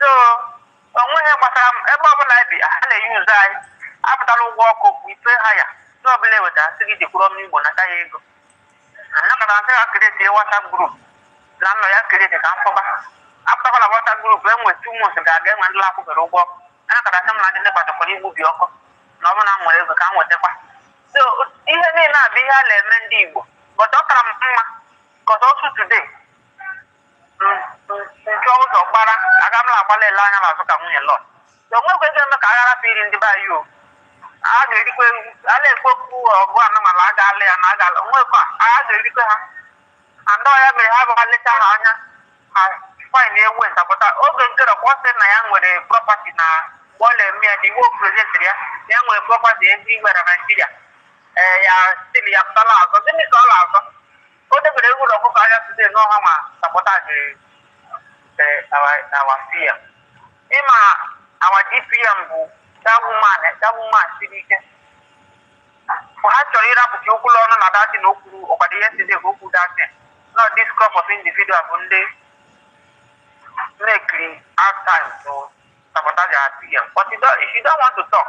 so o nweghị ihe gbasara m ebe ọbụla anyị bi ha na-use anyị apụtala ụgwọ ọkụ bụ ife ha ya ndị ọbụla eweta sị gị jekwuru onye igbo nata ya ego anọkata asị ha create whatsapp group na nọ ya create ka m pụba apụtakwala whatsapp group enwe two months ga-aga enwe ndị akwụbere ụgwọ ọkụ anọkata sị m na ndị nepa batakwara igbubi ọkụ na ọ bụrụ na m nwere ego ka m wetakwa so ihe niile a bụ ihe a na-eme ndị igbo but ọ kara m mma because as of today nke ụzọ gbara aga m na-agbala ele anya n'azụ ka nwunye lọt o nwekwa ezi eme ka aghara bụ iri ndị be anyị o a ga-erikwa ewu a na-ekwu okwu ọgụ anụmanụ a ga-alụ ya na a ga-alụ nwekwa a ga-erikwa ha and ya mere ha bịa leta ha anya ha fain ewu ntapụta oge nke rọkwa sị na ya nwere prọpati na bọọlụ eme ya dị iwu prezidentịrị ya na ya nwere prọpati ezi igwe na naijiria ee ya still ya pụtala azọ gịnị ka ọ na-azọ O debere ewu na ọkụkọ ahịa today na ọ ha na sabotage eh, our our PM. Ịma our DPM bụ that woman eh, that woman siri ike. Mgbe ha chọrọ ịrapụta okwu n'ọnụ na that na o kwuru ọ kwado ihe side ka okwu that na this crop of individual bụ ndị na-ecreate out time to sabotage our PM. But you don't, if you don't want to talk,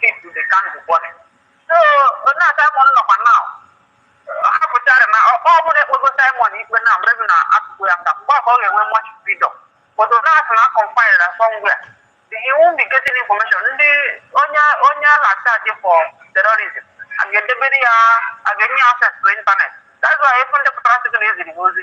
keep the candle burning. So na Simon nọkwa na ha pụtara na ọ ọ bụrụ ekpego Simon ikpe na maybe na atụkwu ya nga mgbe ahụ ọ ga-enwe much freedom. But onye asị na confined na somewhere. He won't be getting information. Ndị onye onye a na-achaji for terrorism a ga-edebere ya a ga-enye ya access to internet. That's why ị fụ ndị pụtara sị gị na eziri gị ozi.